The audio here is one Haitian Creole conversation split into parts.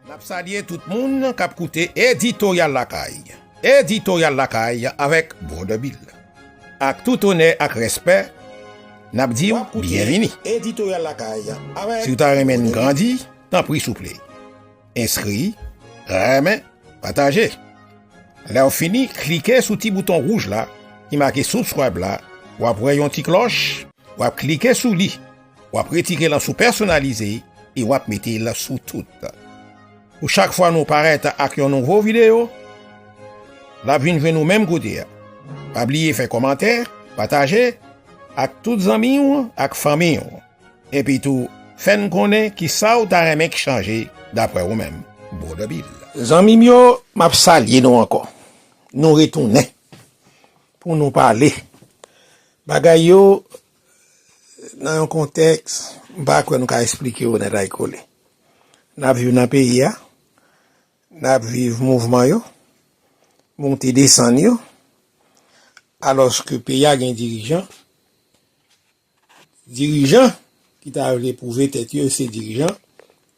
Nap salye tout moun kap koute Editoryal Lakay. Editoryal Lakay avèk Brother Bill. Ak tout onè ak respè, nap di w byenvini. Si w ta renmen n grandi, tanpri souple, enskri, renmen, pataje. Lè w fini, klike sou ti bouton wouj la ki make Subscribe la, wap wè yon ti klòch, wap klike sou li. Wap retire lan sou pèsonalize e wap mete lan sou tout. Pou chak fwa nou parèt ak yon nouvo video, lap vin jwenn ou menm kote a. Pa bliye fè kòmantè, pataje ak tout zanmi w ak fanmi w. Epi tou fèn konnen kisa w ta renmen k chanje daprè ou menm. Brother Bill. Zanmi m yo map salye nou ankò. Nou retounen pou nou pale bagay yo Nan yon kontèks, m pa kwè nou ka esplike yo nètaykole. N ap viv nan peyi a, n ap viv mouvman yo, monte desann yo, alòske peyi a gen dirijan, dirijan ki ta vle pwouve tèt yo yo se dirijan,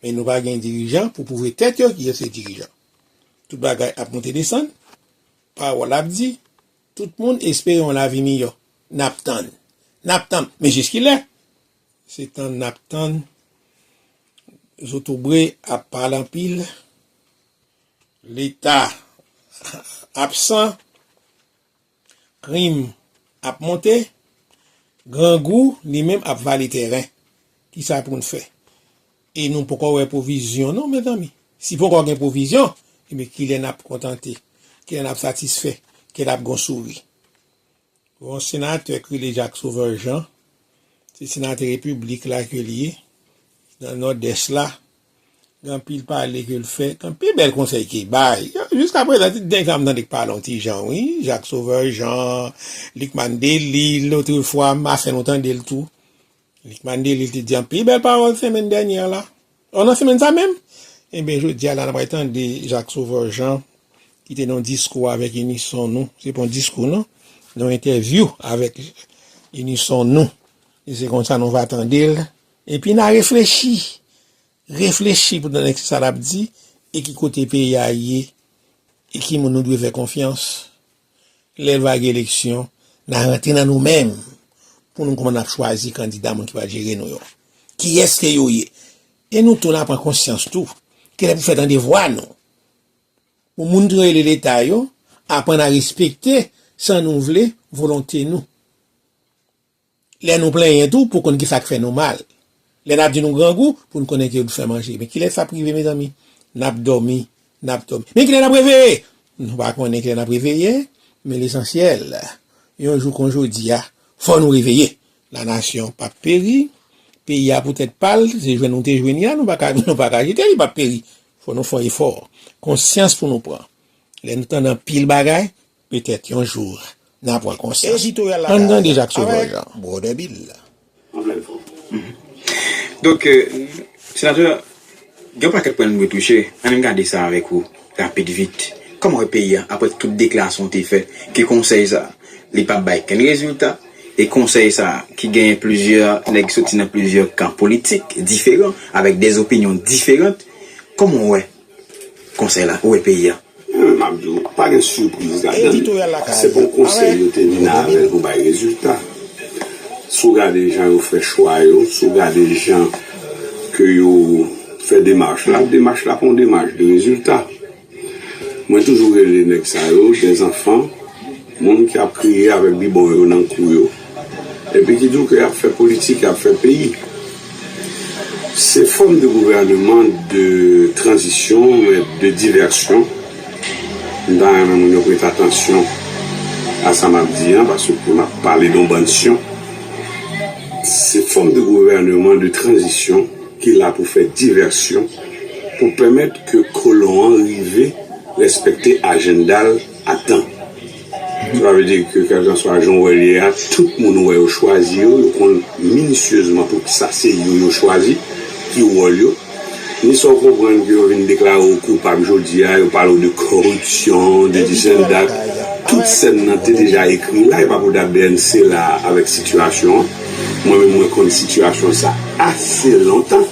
men nou pa gen dirijan pou pwouve tèt yo ki yo se dirijan. Tout bagay ap monte desann, pawòl ap di. Tout moun espere yon lavi miyò. N ap tann. N ap tann. Men jiskilè? Se tann n ap tann. Zotobre ap pale anpil. Leta absan. Krim ap monte. Grangou li menm ap vale tèren. Kisa pou n fè? E nou poko wè pwovizyon non mezanmi. Si poko gen pwovizyon, ebyen kilè n ap kontante, kilè n ap satisfè, kilè n ap gen yon souri? Gen yon senatè ki rele Jacques Sauveur Jean, se senatè repiblik la ke li ye, nan Nòdès la, gen anpil pale ke l fè, gen anpil bèl konsèy ke l bay. Jiska prezan se dènye fwa m tande k pale yon ti jan wi, Jacques Sauveur Jean, Lucmane Delille, lotrefwa m a fè nou tande l tou, Lik Mandeli te di anpil bèl pawòl senmenn dènyè a la, o nan senmenn sa menm, enben jodi a la n ap pral tande Jacques Sauveur Jean ki te nan yon diskou avèk inison nou, se pa yon diskou non, yon entèvyou avèk inison nou, e se konsa nou va tande l, epi n a reflechi, reflechi pou n tande ki sa l ap di e ki kote peyi a ye e ki moun nou dwe fè konfyans Lè va gen eleksyon, na rantre nan nou menm pou nou koumann ap chwazi kandida moun ki va jere nou yo. Kiyès ke yo ye? E nou tou na pran konsyans tou ke lè pou fè tande vwa nou. Pou moun ki rele leta yo aprann a respekte san nou vle volonte nou. Lè nou plenyen tou pou konn kisa k fè nou mal. Lè nap di nou grangou pou n konnen ke nou fè manje. Men kilè sa ap rive mezanmi? Nap dòmi, nap dòmi. Men kilè nap reveye? Nou pa konnen kilè nap reveye, men lesansyèl, yon jou kon jodi a, fò nou reveye. La nasyon pap peri, peyi a pou tèt pa l, se jwenn nou te jwenn li a, nou pa ka jete li pap peri. Fò nou fè efò. Konsyans pou nou pran. Lè nou tande anpil bagay, Petèt yon jou na pran konsyans. Ann tande Jak Sovol Jan. Anplen fom. Donk Senatè gen yon pakèt pwen nou dwe touche, ann gade sa avèk ou rapid vit. Kòman wè peyi a aprè tout deklarasyon w te fè ke konsèy sa li pap bay kenn rezilta e konsèy sa ki genyen plizyè nèg soti nan plizyè kan politik diferan avèk dè zopinyon diferant kòman w wè Konsèy la, ou wè peyi a. M ap di w, pa gen sipriz ladan l. Se pa yon konsèy yo te vin avè l pou bay rezilta. Si w gade jan yo fè chwa yo, si w gade jan ke yo fè demach la, demach la pa yon demach de rezilta. Mwen toujou rele nèg sa yo dèzanfan. Moun ki ap kriye avèk bibon yo nan kou yo epi ki di w ke y ap fè politik, y ap fè peyi, se fòm de gouvèneman de tranzisyon men de divèsyon. M ta renmen moun yo prete atansyon a sa m ap di an paske m ap pale de yon bann syon. Se fòm de gouvèneman de tranzisyon ki la pou fè divèsyon pou pèmèt ke kolon an rive rèspèkte ajennda l. ak tan. Sa vle di ke kèlkanswa jan w wè l ye a, tout moun ou wè yo chwazi yo, yo konn minisyezman poukisa se yo yo chwazi, ki wòl yo. Ni sa w konprann ke yo vin deklare w koupab jodi a, yo pale w de kòripsyon, de disenndak, tout sèn nan te deja ekri la, e pa pou dat bnc la avèk sitiyasyon an. Mwen menm mwen konn sitiyasyon sa ase lontan.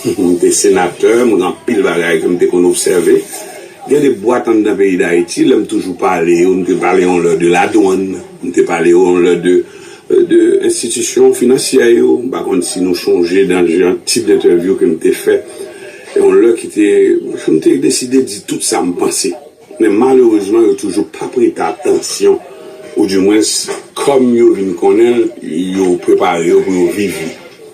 M te senatè, m gen anpil bagay ke m te konn obsève. Gen de bwat anndan peyi Dayiti, lè m toujou pale yo, m te pale yon lè de ladwann, m te pale yo yon lè de enstitisyon finansyè yo, m pa konn si nou chonje dan jan tip dentèvyou ke m te fè yon lè ki te, m te deside di tout sa m panse. Men malerezman yo toujou pa prete atansyon ou di mwens kòm yo vin konnen l, yo prepare yo pou yo viv li.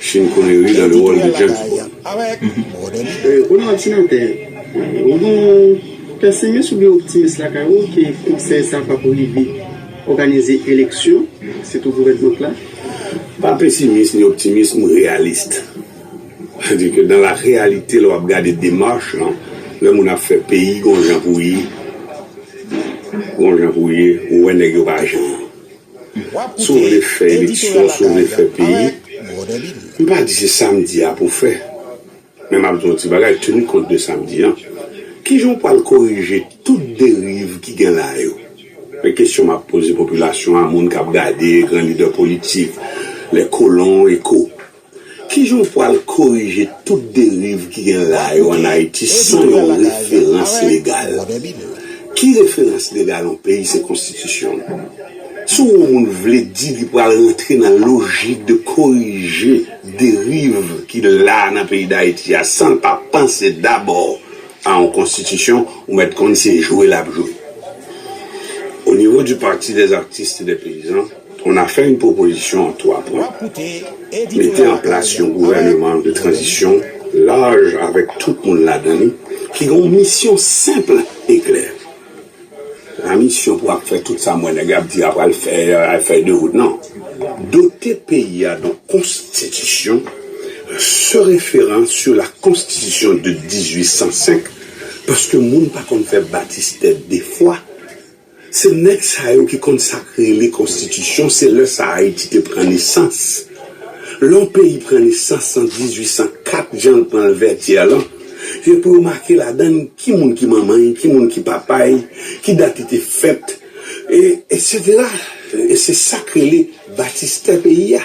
Sean Connery dans le rôle de James Bond. Konnen òdinatè, ou gen yon pesimis oubyen optimis lakay ou ke konsèy sa pap rive òganize eleksyon, sitou gouvènman la? M pa pesimis ni optimis, m reyalist. Sa di ke dan la reyalite lè w ap gade demach lan, lè moun ap fè peyi gon jan pou ye, gon jan pou ye, ou wè nèg yo pa jan. Wap koute Editorial Lakay Alright brother Bill. M pa di se sa m di a pou fè, men m ap di w yon ti bagay tenu kont de sa m di an. Kijan w pral korije tout deriv ki gen la yo? Men kesyon m ap poze popilasyon an, moun k ap gade, gran lidè politik, les colons et co. Ki jan w pral korije tout deriv ki gen la yo an Ayiti san yon referans legal? Ki referans legal yon peyi se konstitisyon l. Si yon moun vle di li pral rantre nan lojik de korije deriv ki la nan peyi Dayiti a san l pa panse dabò a yon konstitisyon, ou mèt konn se jwe l ap jwe. Onivo di Parti des Artistes et des Paysans, On a fè yn pwopozisyon an 3 pwen, mete an plas yon gouvèneman de tranzisyon laj avèk tout moun ladan li ki gen yon misyon senpl e klè. Se pa misyon pou ap fè tout sa m wè nèg ap di a pral fè, ay fèy de wout non. Dote peyi a don konstitisyon se referan sou la konstitisyon de 1805 paske moun pa konn fè batistè 2 fwa. Se nèg sa yo ki konn sak rele konstitisyon se lè sa ayiti te pran nesans lè yon peyi pran nesans an 1804 janl pranl vètyè lan gen pou yo make ladann ki moun ki manmanl ki moun ki papal ki dat li te fèt e etc e se sak rele batistè peyi a.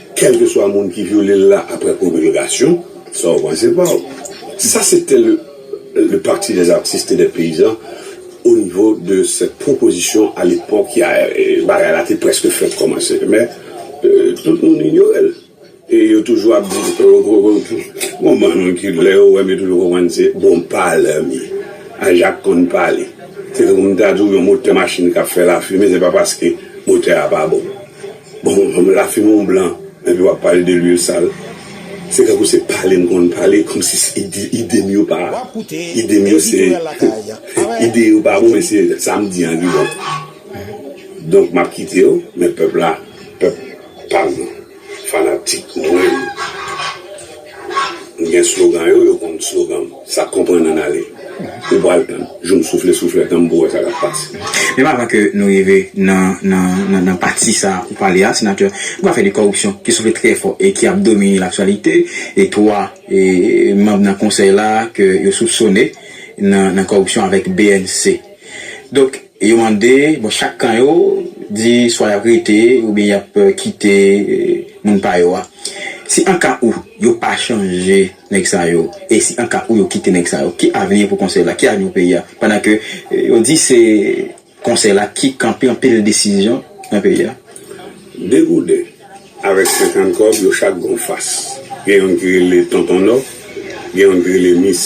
Kèlkeswa moun ki vyole l la aprè promilgasyon, sa w panse pa w? Sa se te le Parti des artistes et des paysans o nivo de sèt pwopozisyon a lepòk ya bagay la te prèske fèk kòmanse men tout moun inyore l e yo toujou ap di bon bann ki lè yo wè m yo toujou konprann se bon palè m ye a Jak konn pale se tankou m ta di w yon motè machin k ap fè lafimen se pa paske motè a pa bon. Bon fanm la fin on blan epi wap pale de lwil sal se tankou se pale m konn pale komsi idem yo pa idem yo se ide yo pa bon men se sam di an ki bon donk map kitew men pèp la pèp pam fanatik mwen. M gen slogan yo, yo konn slogan m. Sa k konprann ann ale. Ou pral tann. Jou m soufle souflèt an m pou wè sa k ap pase. Menm avan ke nou rive nan pati sa ou pale a, Senatè, gen afè de kòripsyon ki soufle trè fò e ki ap domine laktyalite. E 3 manm nan konsèy la ke yo soupsone nan kòripsyon avèk bnc. Donk. E yo mande, bon chak kan yo di swa yap rete oubyen yap kite moun pa yo a. Si anka ou yo pa chanje nèg sa yo e si anka ou yo kite nèg sa yo, ki avni pou konsèy la, ki avni pou peyi a? Pandan ke yo di se konsèy la ki kanpe anpil desizyon nan peyi a. Degouden. Avèk 50 kòb, yo chak gen yon fas. Gen youn ki rele Tonton Nò, gen youn ki rele Mis,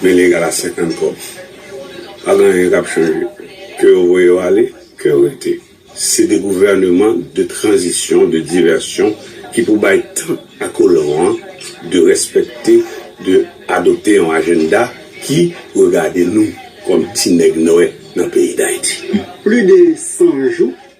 men li egal a 50 kòb. Pa gen anyen k ap chanje. Ke yo voye yo ale, ke yo rete. Se de gouvèneman de tranzisyon, de divèsyon ki pou bay tan a kolon an de rèspèkte, de adopte yon ajennda ki regade nou kòm ti nèg nwè nan peyi Dayiti. Pli de 100 jou.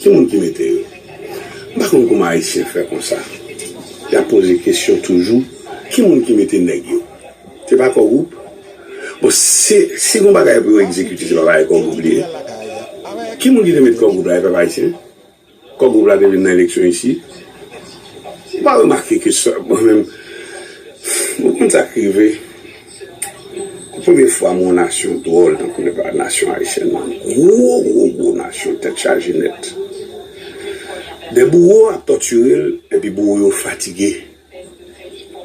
Ki moun ki mete yo? M pa konn kouman ayisyen fè konsa. Y ap poze kesyon toujou, ki moun ki mete nèg yo? Se pa Kògwoup? Bon, si si gon bagay pou yo egzekite se pa bagay Kògwoup li ye? Ki moun ki te mete Kògwoup la e pèp ayisyen? Kògwoup la te vin nan eleksyon isi? Ou pa remake ke sa mwen menm, ou konn sa k rive? Premye fwa m wè yon nasyon dwòl tankou nèg la, nasyon ayisyèn lan. Gwo gwo gwo nasyon tèt chaje nèt. Dè bouwo ap tòtire l epi bouwo yo fatige.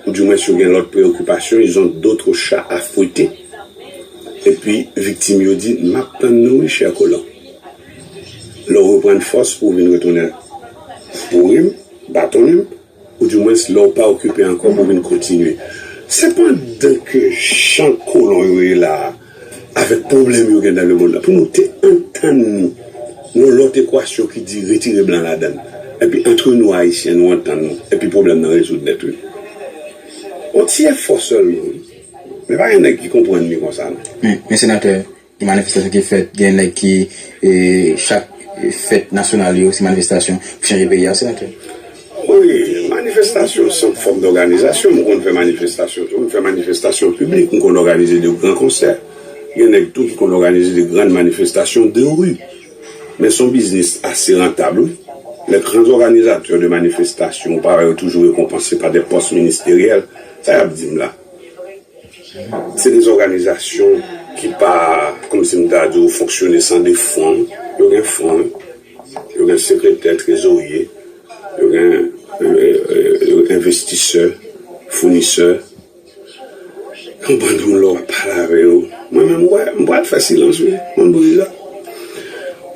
Ou di mwens yo gen lòt preokipasyon, ils ont d'autres chats à fouetter. Epi viktim yo di, m ap tann nou wi chè kolon. Lè w reprann fòs pou w vin retounen boure m, batonnen m. Ou di mwens lè w pa okipe ankò pou vin kontinye. Se pandan ke jan kolon yo ye la a, avèk pwoblèm yo gen nan lemonn la, pou nou te antann nou yon lòt ekwasyon ki di retire blan ladan l, epi antre nou Ayisyen nou antann nou, epi pwoblèm nan rezoud nèt wi. Yon ti efò sèlman wi. Men pa gen nèg ki konprann li konsa non. Men, Senatè, Manifestasyon ki fèt gen nèg ki chak fèt nasyonal yo se manifestasyon pou chanje peyi a senatè? Wi manifestasyon se yon fòm dòganizasyon m konn fè manifestasyon tou m fè manifestasyon piblik m konn òganize de gran konsè gen nèg tou ki konn òganize de gran manifestasyon de ri men son biznis ase rantab wi lè gran òganizatè de manifestasyon ou pa wè yo toujou rekonpanse pa de pòs ministeryèl sa y ap di m la. Se de zòganizasyon ki pa, kòm si m ta di w, fonksyone san de fon. Yo gen fon, yo gen sekretè, trezorye, yo gen envestisè, founisè. Yon bann moun lè w ap pale avè yo, mwen menm m pral fè silans wi, mwen m bouji la.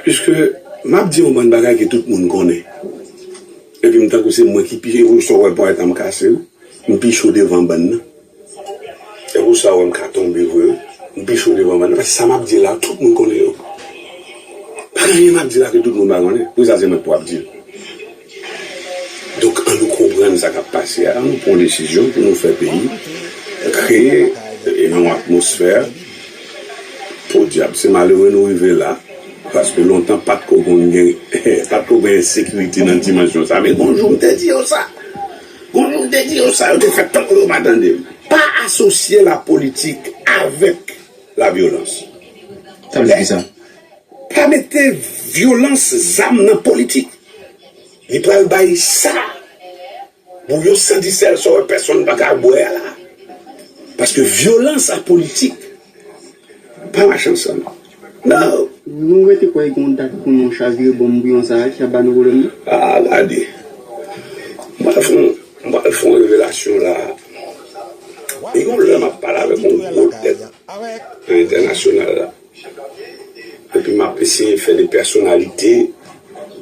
Piske m ap di yon bann bagay ke tout moun konnen. Epi m tankou se mwen ki pi cho epi w sa w wè ponyèt lan m kase wi m pi cho devan bann nan epi w sa w wè m ka tonbe vre wi m pi cho devan bann nan paske sa m ap di la tout moun konnen yo pa gen anyen m ap di la ke tout moun pa konnen poukisa se mwen k pou ap di l donk an nou konprann sa k ap pase a an nou pran yon desizyon pou nou fè peyi kreye yon atmosfè. Podyab se malere nou rive la paske lontan pat ko konn gen pat ko gen ensekirite nan dimansyon sa men gon jou m te di yo sa gon jou m te di yo sa yo te fè tankou yo pa tande m. Pa asosye la politik avèk la vyolans sa vle di kisa? Pa mete vyolans zam nan politik li pral bay sa. Bon yo santi sèl sa yo pèsonn pa ka bwè a la paske vyolans ak politik pa mache ansanm nan. Nou rete kwè gen yon dat pou nou chavire bonm bouyon sa a ki ap ba nou pwoblèm nan? Aa gade. M pral fè yon, m pral fè yon revelasyon la a. Gen yon lè m ap pale avèk yon gwo tèt nan entènasyonal la. Epi map eseye fè de pèsonalite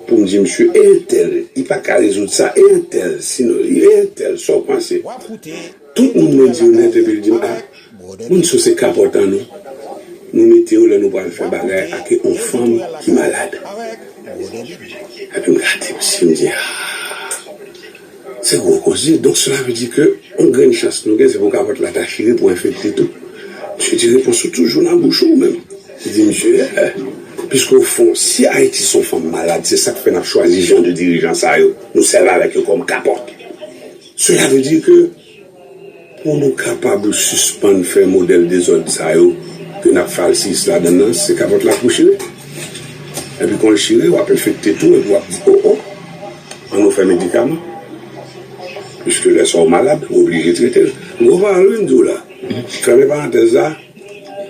pou m di misye e entèl li pa ka rezoud sa e entèl si non li e entèl sa w panse tout moun mwen di yo nèt epi l di m a moun sa yo se kapòt an nou nou mete yo lè nou pral fè bagay ak yon fanm ki malad epi m gade misye m di aa. Se gwo koze, donk sela vle di ke yon grenn chans nou gen se pou kapòt la ta chire pou enfekte tou? Misye di repons ou toujou nan bouch ou oumenm. Li di misye ee, piske ofon si Ayiti son fanm malad se sak fè nap chwazi jan de dirijan sa yo, nou sèvi avèk yo kòm kapòt. Sela vle di ke. Pou nou kapab sispann fè modèl dezòd sa yo ke n ap falsiyis ladann nan, se kapòt la pou w chire. Epi kon l chire, w ap enfekte tou epi w ap di, O, o! An nou fè medikaman. Piske lè sa w malad, ou oblije trete l. M gen yon pawòl wi m di w la. Fèmen parantèz la,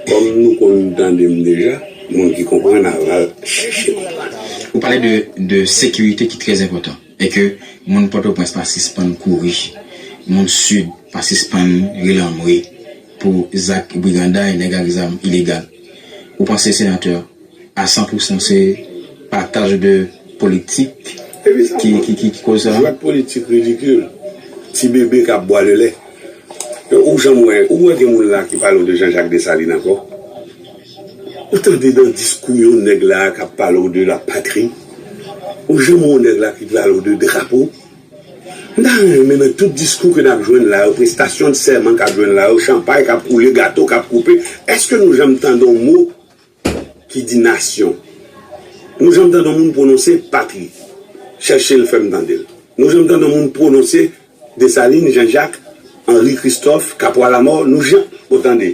kòm nou konn tande m deja, moun ki konprann ava chèche konprann. Ou pale de sekirite ki trèzenpòtan. E ke moun Pòtoprens pa sispann kouri, moun Sid pa sispann relanmwe pou zak briganday nèg ak zam ilegal. Ou panse senatè a san pou san se pataj de politik ki koz sa? Jwèt politik ridikil, ti bebe kap bwa le lè. Ou janm wè, ou wè gen moun la ki pale w de Jean Jacques Dessalines ankò? Ou tande nan diskou yon nèg la a kap pale w de la patri, ou janm wè yon nèg la ki pale w de drapo? M ta renmen nan tout diskou ke nap jwenn la yo, prestasyon de sèman kap jwenn la yo, chanpay kap koule, gato kap koupe, eske nou janm tande yon mo ki di nasyon? Nou janm tande yon moun pwononse patri? Chèche l fè m tande l. Nou janm tande yon moun pwononse Desalin, Janjak, Anri Kristòf, Kapwa Lamò? Nou janm, bon tande.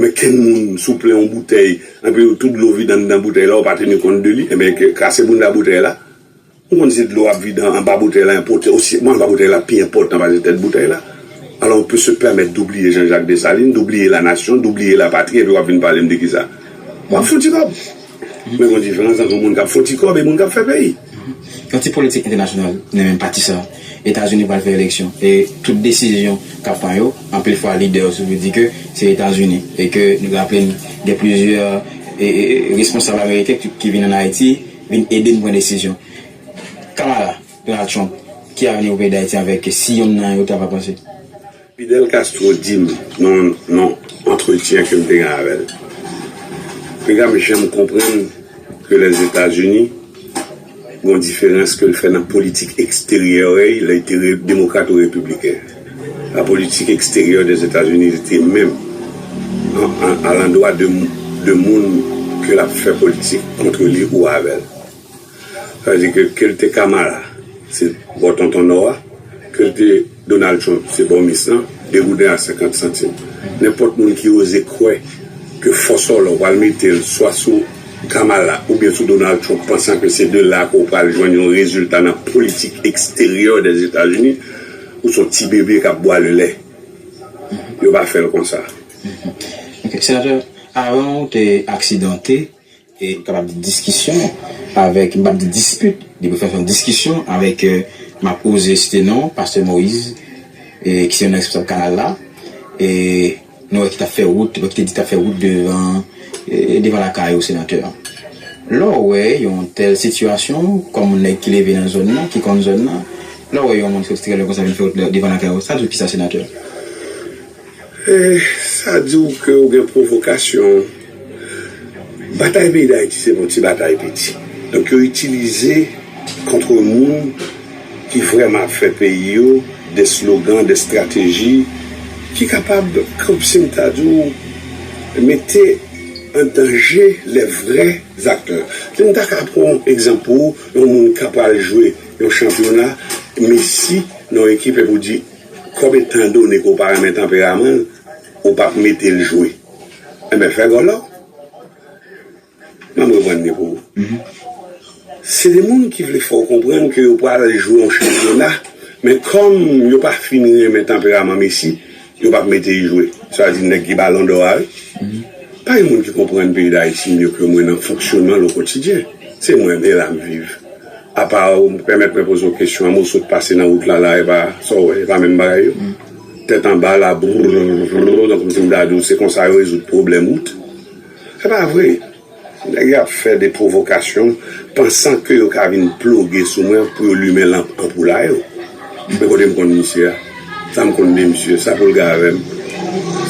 Men kenn moun sou plen yon boutèy enpi yo tout dlo vide anndan boutèy la ou pa teni kont de li enben kase bounda boutèy la ou konn si dlo ap vide anba boutèy la enpòtan osi bon anba boutèy la pi enpòtan pase tèt boutèy la alò on pe se pèmèt dou bliye Jean Jacques Dessalines dou bliye la nasyon dou bliye la patri enpi wap vin pale m de kisa wap fouti bab. M bezwen diferans antre moun kap fon ti kòb e moun kap fè peyi. Yon ti politik entènasyonal nan menm pati sa. Etazini pral fè eleksyon e tout desizyon kap pran yo, anpil fwa lidè yo toujou di ke se Etazini e ke nou raple n gen plizyè responsab ameriken ki vin an Ayiti vin ede n pran desizyon. Kamala, Donald Trump, ki avni pou peyi Dayiti avèk si yonn nan yo ta va pase? Fidel Castro di m nan yon antretyen ke m te gen avè l, Pega m janm konprann ke Lèzetazini gen yon diferans ke l fè nan politik eksteryè y lè y te demokrat ou repibliken. La politique extérieure des États-Unis rete menm alandwa de moun ke l ap fè politik kontre li ou avè l. Sa vle di ke ke l te Kamala, se bò tonton nò a, ke l te Donald Trump, se bò mis lan, degouden a senkant santim. Nenpòt moun ki oze kwè ke fò sòlò pral mete l swa sou Kamala oubyen sou Donald Trump pansan ke se de la ke w pral jwenn yon rezilta nan politik eksteryè Dèzetazini, ou son ti bebe k ap bwale lè. Yo pa fè l konsa. Ok, Senatè, avan ou te aksidante, e m kapab di diskisyon avèk, m pap di dispit, depi ou fè son diskisyon avèk, m ap oze site non pastè Moïse e ki se youn nan responsab kanal la e nou wè ki t ap fè wout, ki te di t ap fè wout devan e devan lakay ou senatè. Lè w wè yon tèl sitiyasyon kòm nèg ki leve nan zòn nan, ki konn zòn nan, lè w wè yon moun ki sòti trè lwen konsa vin fè wout devan lakay ou, sa di w kisa senatè? Sa di w ke w gen pwovokasyon. Batay peyi Dayiti se pa yon ti batay piti. Donk yo itilize kontre moun ki vrèman ap fè peyi yo de slogan, de strateji ki kapab, komsi m ta di w, mete an danje lè vrè zaktè. Si m ta ka pran yon egzanp pou ou, yon moun ka pral jwe yon chanpyona, Messi nan yon ekip epi w di, Kòm etan done ke w pa renmen tanperaman l, ou pa p mete l jwe. Enben, fè gòl la w. Ban m reprann li pou ou. Se de moun ki vle fè w konprann ke yo pral jwe yon chanpyona, men kòm yo pa fin renmen tanperaman Messi, yo pa p mete l jwe. Sa vle di nèg ki balon dò a wi. Pa gen moun ki konprann peyi Dayiti mye ke mwen nan fonksyonman l okotidyen. Se mwen, e la m viv. Apa ou pèmèt mwen poze w kesyon amou sot pase nan wout la la epa sa w wè epa menm bagay yo tèt anba labrrrrrrrrr nan kòmsi m ta di w se konsa yo rezoud pwoblèm wout epa vre nèg yo ap fè de pwovokasyon pansan ke yo ka vin ploge sou mwen pou yo limen lanp anpou la yo men kote m konn misye a sa m konn de misye sa pou l gave m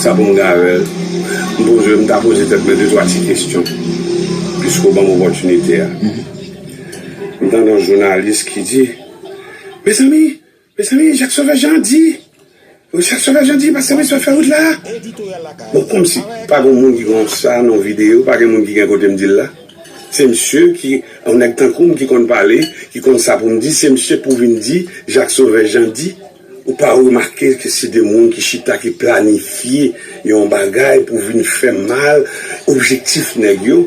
sa pou m gave l m poze m ta poze tèt mwen de twa ti kesyon piske w ban m opòtinite a. M tande yon jounalis ki di, Mezanmi, mezanmi, Jacques Sauveur Jean di, Jacques Sauveur Jean di pastè Maxwell fè wout la. Bon, kòmsi pa gen yon moun ki konn sa nan videyo, pa gen moun ki gen kote m di l la? Se msye ki, yon nèg tankou m ki konn pale, ki konn sa pou m di, se msye pou vin di Jacques Sauveur Jean di? Ou pa remake ke se de moun ki chita, ki planifye yon bagay pou vin fè mal objektif nèg yo.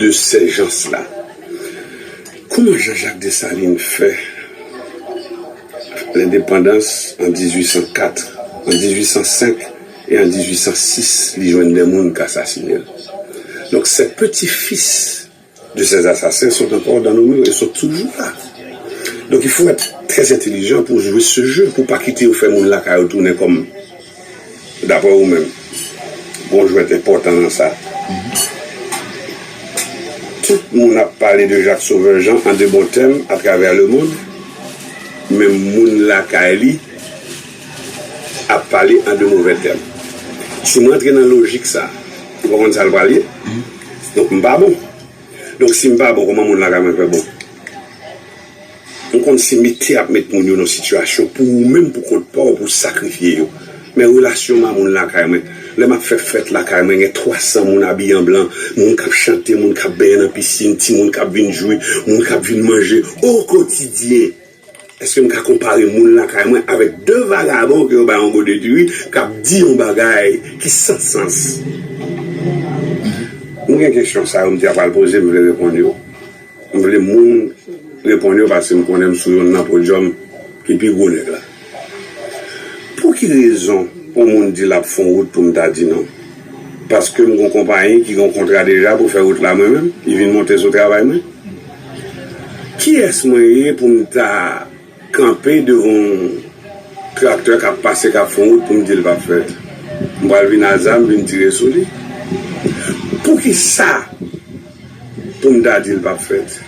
de sèjans la. Kouman Jean Jacques Dessalines fè lendepandans an 1804, an 1805 e an 1806 li jwenn 2 moun k asasine l. Donk ces petits fils de ces assassins sont encore dans nos murs e sot toujou la. Donk il faut être très intelligent pou jwe ce jeu pou pa kite yo fè moun lakay ou tounen kòm Daprè ou menm, gon jwèt enpòtan nan sa. Tout moun ap pale de Jacques Sauveur Jean an de bon tèm atravè lemond, men moun lakay li ap pale an de movè tèm. Si m rantre nan lojik sa, ou konprann sa l pral ye? Donk m pa bon. Donk si m pa bon, kòman moun lakay mwen fè bon? Mwen konn se mete ap met moun yo nan sitiyasyon pou ou menm pou kont pa w pou sakrifye yo. Men relasyon m a moun lakay mwen. Lè m ap fè fèt lakay mwen gen 300 moun abiye an blan, moun k ap chante, moun k ap benyen nan pisin, timoun k ap vin jwi, moun k ap vin manje o kotidyen. Eske m ka konpare moun lakay mwen avèk 2 vagabon ke yo bay yon gode diri k ap di yon bagay ki san sans? Mwen gen kesyon sa yo m te ap al poze m vle reponn yo. M vle moun reponn yo paske m konnen m sou yonn nan podyòm ki pi gwo nèg la. Pou ki rezon yon moun di l ap fon wout pou m ta di non? Paske m gon konpayi ki gon kontra deja pou fè wout la mwen menm ki vin monte sou travay mwen? Kiyès mwen ye pou m ta. kanpe devan yon traktè kap pase kap fè yon wout poum dil pap fèt m pral vin a zam vin tire sou li poukisa poum ta dil pap fèt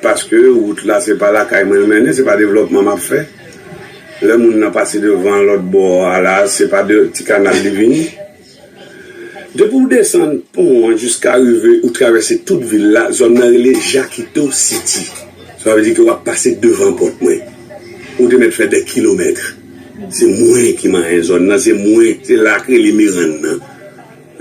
paske wout la se pa lakay mwen l mennen se pa devlòpman map fè lè moun nan pase devan lòt bò a la se pa de ti kanal li vini. Depi ou desann pon an jiska rive ou travèse tout vil la, zòn nan rele Jakito Siti. Sa vle di ke wap pase devan pòt mwen. Ou te mèt fè dè kilomèt. Se mwen ki manyen zòn nan, se mwen, se la ak rele Merann nan.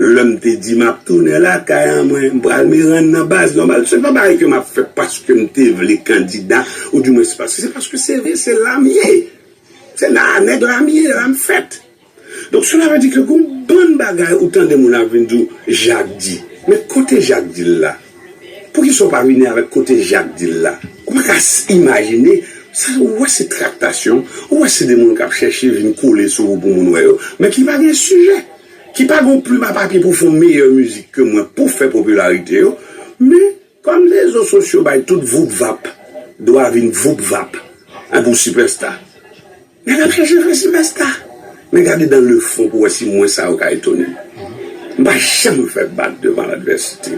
Lè m te di map tounen lakay an mwen, m pral Merann nan baz nòmal, se pa bagay ke map fè paske m te vle kandida ou di mwens paske se paske se vre se la m ye. Se la a nèg la m ye, la m fèt. Donk sela vle di ke gon bann bagay ou tande moun ap vin di w Jak di. Men kote Jak di l la? Poukisa w pa vini avèk kote Jak di l la? Ou pa ka imajine, sa ou wè se traktasyon, ou wè se de moun k ap chèche vin kole sou ou pou moun wè yo, men ki pa gen sijè, ki pa gon plim a papye pou fon meyè mizik ke mwen pou fè popilarite yo, men. Kòm rezo sosyo bay tout voup vap dwa vin voup vap anpi w sipèsta, nèg ap chèche fè sipèsta. Men gade dan le fon pou wè si mwen sa yo ka etone m. M pa janm fè bak devan ladvèsite.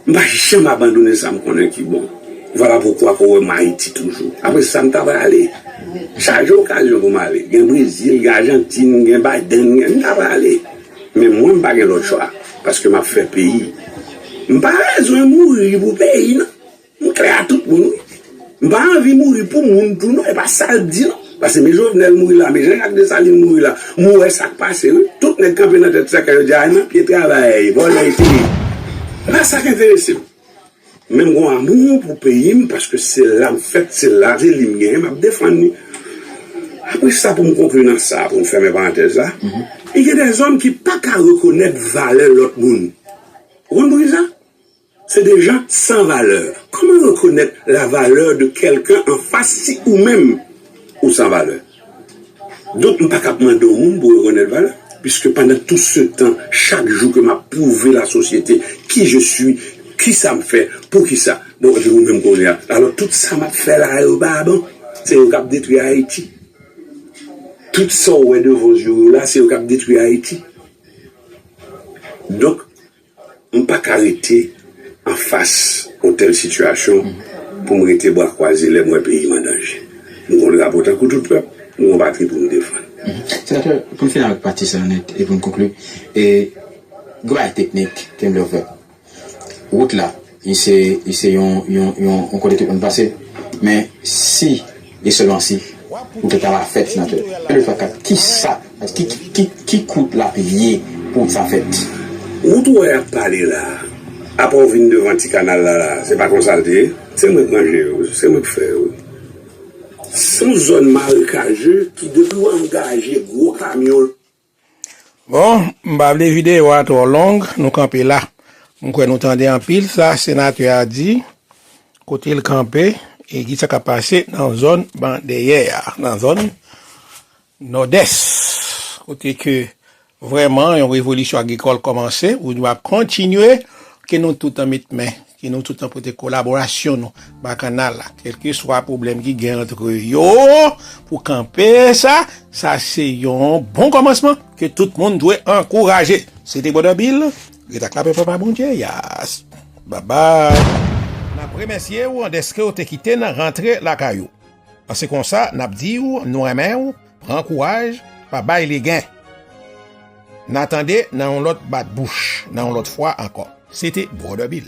M pa janm abandone sa m konnen ki bon. Vwala poukwa pou w wè m Ayiti toujou. Apre sa m ta prale. Chaje okazyon pou m ale. Gen Brezil, gen Ajantin, gen Biden, gen m ta prale. Men mwen m pa gen lòt chwa paske map fè peyi m pa bezwen mouri pou peyi nan m klè a tout moun wi m pa anvi mouri pou moun tou non e pa sal t di non paske me jovenel mouri la me janjak desalin mouri la m wè sak pase wi tout nèg kanpe nan tèt sèkèy yo di a nan pye travayè ye vòlè yo se yo e pa sak enteresem. Menm gon amour pou peyim paske se lam fèt se lavi li m genyen map defann li apre sa poum konkli nan sa poum fèmen parantèz la li gen de zòm ki paka rekonèt valè lòt moun ou konn poukisa se de jan san valè kòman rekonèt la valè de kèlken anfas si ou menm ou san valè. Donk m pa kab mande yon moun pou rekonèt valè piske pandan tout se tan chak jou ke m ap pwouve lasosyete ki je sui, ki sa m fè, pou ki sa. Bon, epi ou menm kounye a? Alò tout sa m ap fè la yo pa bon? Se yo k ap detwi Ayiti. Tout sa ou wè devan zye w yo la se yo k ap detwi Ayiti. Donk. M pa ka rete anfas yon tèl sitiyasyon pou m rete bra kwaze lè m wè peyi m an danje. M gon drapo tankou tout pèp, m gon patri pou m defann. Senatè, pou n fini avèk pati sa a nèt e pou n konkli, gen yon bagay teknik ke m vle ou fè. Wout la. Li se, li se yon, yon, yon, yon kote tout moun pase. Men, si, e sèlman si, ou te ka la fèt, Senatè, e le twa kat, ki sa, ki, ki, ki, ki kout l ap ye pou wout sa fèt? Wout ou wè ap pale la a, apre ou vin devan ti kanal la la a, se pa konsa l te ye? Se mwen k manje yo, se mwen k fè yo. S on zòn marekaje ki depi w angaje gwo kamyon. Bon, m pa vle videyo a twò long, nou kanpe la. M kwè nou tande anpil sa senatè a di, kote l kanpe e ki sa k ap pase nan zòn ban dèyè a, nan zòn Nòdès, kote ke vrèman yon revolisyon agrikòl kòmanse oubyen ap kontinye, ke nou tout an met men. Ke nou tout nan pote kolaborasyon nou ba kanal la, kelkeswa pwoblèm ki gen antre yo, pou kanpe sa, sa se yon bon kòmansman ke tout moun dwe ankouraje. Se te Brother Bill, ret ak lapè Papa Bondye, yaas, babay. N ap remèsye ou dèske ou te kite n rantre lakay ou. An se konsa n ap di ou nou renmen ou Pran kouraj, pa bay legen. Na tande nan yon lot bat bouch, nan yon lot fwa anko. Se te Brother Bill.